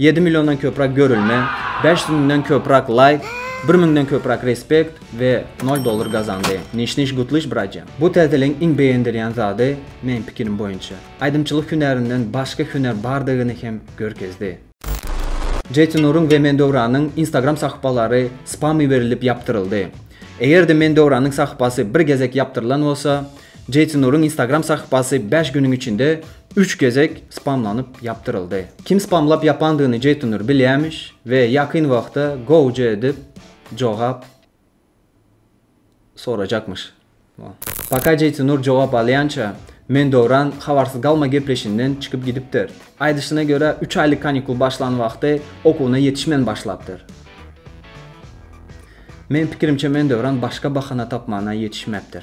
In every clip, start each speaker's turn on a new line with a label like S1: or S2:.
S1: Ýedi milliondan köpräk görülme, bäş ýüz müňden köpräk laýk, bir müňden köpräk respekt we nol dollar gazandy. Niş niş gutlyş brace. Bu täzeligiň iň begendiryän zady, meň pikirim boýunça, aýdymçylyk hünärinden başga hünär bardygyny hem görkezdi. Jetinuryň we Mendöwranyň Instagram sahypalary spam iberilip ýapdyryldy. Eger-de Mendöwranyň sahypasy bir gezek ýapdyrylan bolsa, Jeýson Nuryň Instagram sahypasy bäş günüň içinde üç gezek spamlanyp ýapdyryldy. Kim spamlap ýapandygyny Jeýson Nur bilýämiş we ýakyn wagtda gowja edip jogap sorajakmyş. Paka Jeýson Nur jogap alýança, Men Döwran habarsyz galma gepleşinden çykyp gidipdir. Aýdyşyna görä, üç aýlyk kanikul başlan wagty okuwyna ýetişmän başlapdyr. Meň pikirimçe, Men Döwran başga bahana tapmana ýetişmäpdir.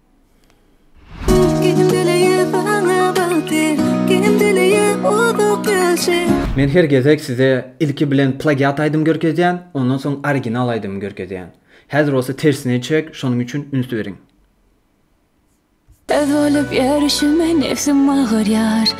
S1: Men her gezek size ilki bilen plagiat aýdym görkezýän, ondan soň original aýdymy görkezýän. Häzir bolsa tersine çek, şonuň üçin üns beriň. Öz
S2: bolup ýörüşime nefsim agyrýar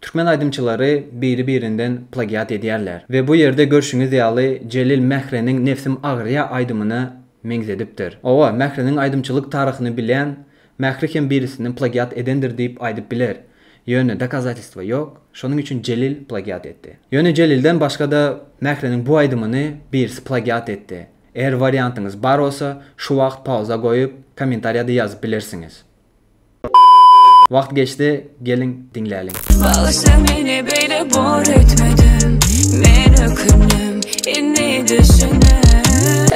S1: Türkmen aýdymçylary biri birinden plagiat edýärler we bu ýerde görşüňiz ýaly Jelil Mähreniň Nebsim agyrýa aýdymyna meňzedipdir. Owa, Mähreniň aýdymçylyk taryhyny bilýän Mähri hem birisinden plagiat edendir diýip aýdyp biler. Ýöne dokazatelstwa ýok, şonuň üçin Jelil plagiat etdi. Ýöne Jelilden başga-da Mähreniň bu aýdymyny birisi plagiat etdi. Eger wariantyňyz bar bolsa, şu wagt pauza goýup, kommentariýada ýazyp bilersiňiz. Wagt geçdi geliň diňläliň.
S2: Bagyşla meni beýle bor etmedim Men ökündim indi düşündim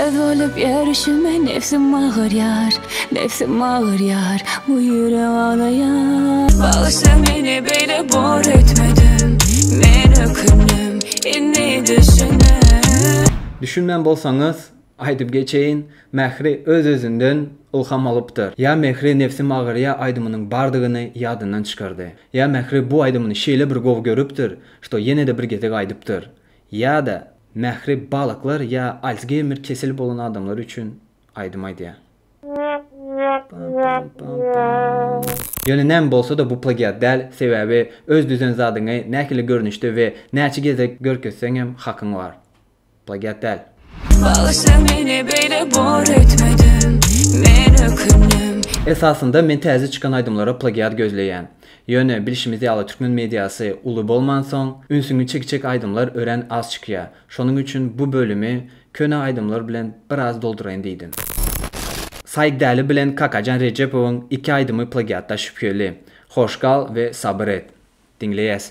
S2: Öz bolup ýörüşime nebsim agyrýar Nebsim agyrýar bu ýürek aglaýar Bagyşla meni beýle bor etmedim Men ökündim indi düşündim. Düşünmän
S1: bolsaňyz Aýdyp geçeýin, Mähri öz-özünden ylham alypdyr. Ýa Mähri nebsim agyrýa aýdymynyň bardygyny ýadyndan çykardy. Ýa Mähri bu aýdymyny şeýle bir gowy görüpdir, şto ýene-de bir gezek aýdypdyr. Ýa-da Mähri balyklar ýa Alsgeýmer keseli bolan adamlar üçin aýdym aýdýar. Ýöne näme bolsa-da bu plagiat däl, sebäbi öz düzen zadyňy nähili görnüşde we näçe gezek görkezseňem hakyň bar. Plagiat däl. Bagyşla
S2: meni beýle bor etmedim men ökündim. Esasynda men
S1: täze çykan aýdymlara plagiat gözleýän. Ýöne bilşimiz ýaly türkmen mediasy uly bolmansoň, ünsüňi çekjek aýdymlar örän az çykýa. Şonuň üçin bu bölümi köne aýdymlar bilen biraz dolduraýyn diýdim. Said Däli bilen Kakajan Rejepowyň iki aýdymy plagiatda şübheli. Hoş gal we Sabyr et. Diňleýäs.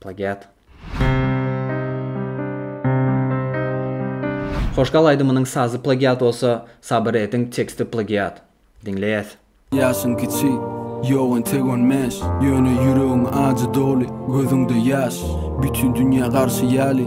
S1: Plagiat. Hoşgal aýdymynyň sazy plagiat bolsa, sabyr ediň teksti plagiat. Diňleýäs. Ýaşyň
S3: kiçi, ýok entek on bäş, Ýöne ýüregiň ajy doly, gözüňde ýaş. Bütin dünýä garşy ýaly,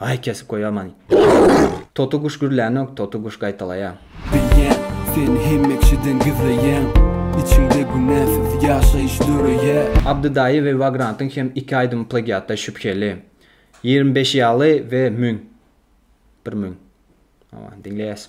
S1: Aý kesip goýaman. Toty guş gürlänok toty guş gaýtalaýa. Beýen,
S3: sen hemmekişiden gizleýäň. Içiňde günäsiz ýaşaýyş döreýä. Abdy daýy we
S1: Vagrantyň hem iki aýdymy plagiatda şübheli. Ýigrimi beş ýaly we müň. Bir müň. Aman, diňleýäs.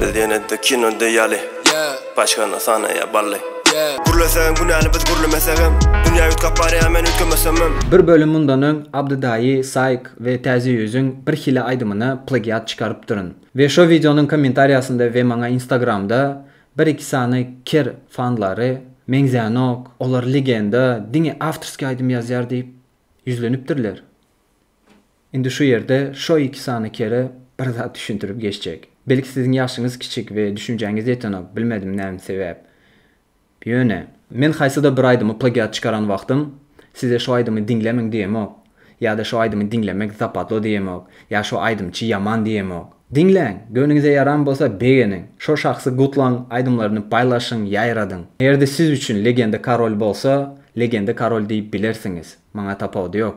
S4: Biz ýene-de kino diýýäli. Başgany sanaýa bally. Gürlesegem günäli biz gürlemesegem Dünýä üýtgäp barýa men üýtgemesemem. Bir bölüm mundan öň
S1: Abdy Daýy, Saýk we Täze Ýüzüň bir hili aýdymyna plagiat çykarypdyryn. We şo wideonyň kommentariýasynda we maňa instagramda bir iki sany kir fanlary Meňzänok, olar legenda, diňe awtorskiý aýdym ýazýar diýip ýüzlenipdirler. Indi şu ýerde şo iki sany kere bir zat düşündirip geçjek. Belki siziň ýaşyňyz kiçik we düşünjäňiz ýetenok, bilmedim näme sebäp. Ýöne. Men haýsyda bir aýdymy plagiat çykaran wagtym size şo aýdymy diňlemeň diýemok, ýa-da şo aýdymy diňlemek zapatlo diýemok, ýa şo aýdymçy ýaman diýemok. Diňläň, göwnüňize ýaran bolsa begeniň, şo şahsy gutlaň, aýdymlaryny paýlaşyň, ýaýradyň. Eger-de siz üçin legenda karol bolsa, legenda karol diýip bilersiňiz, maňa tapawudy ýok.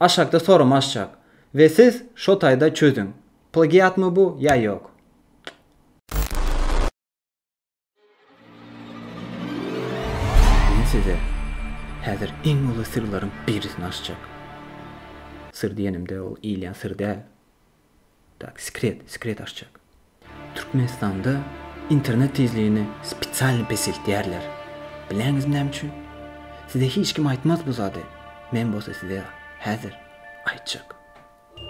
S1: Aşakda sorum açjak we siz şo taýda çözüň. Plagiatmy bu ýa ýok. Men size häzir iň uly syrlaryň birisini açjak. Syr diýenimde ol iýilýän syr däl. Tak, sekret, sekret açjak. Türkmenistanda internet tizligini spesialny peseltýärler. Bileňizmi näme üçin? Size hiç kim aýtmaz bu zady. Men bolsa size häzir aýtjak.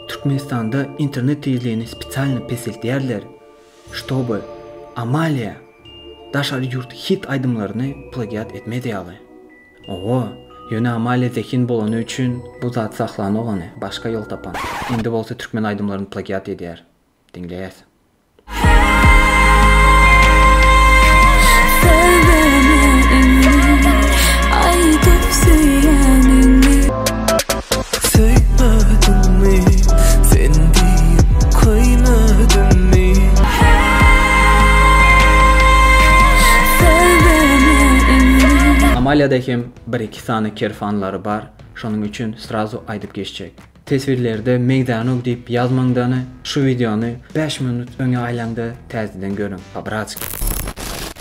S1: Türkmenistanda internet tizligini spesialny peseltýärler, ştoby Amalia daşary ýurt hit aýdymlaryny plagiat etmez ýaly. Owo, ýöne Amalia zehin bolany üçin bu zat saklanok ony, başga ýol tapan. Indi bolsa türkmen aýdymlaryny plagiat edýär. Diňleýäs. Söý meni indi, aýdyp söýýäniňi. Söýmedimmi sen diýip köýmedimmi Söý meni indi. Amalyada hem bir iki sany kerfanlary bar şonuň üçin srazu aýdyp geçjek. Teswirlerde Meýdanug diýip ýazmaňdany şu wideony bäş minut öňe aýlaňda täzeden görüň po bratski.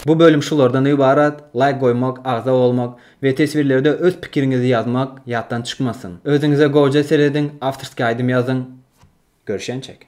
S1: Bu bölüm şulardan ybarat, laýk goýmak, agza bolmak, We teswirlerde öz pikiriňizi ýazmak ýatdan çykmasyn. Özüňize goja serediň, awtorskiý aýdym ýazyň. Görşençek.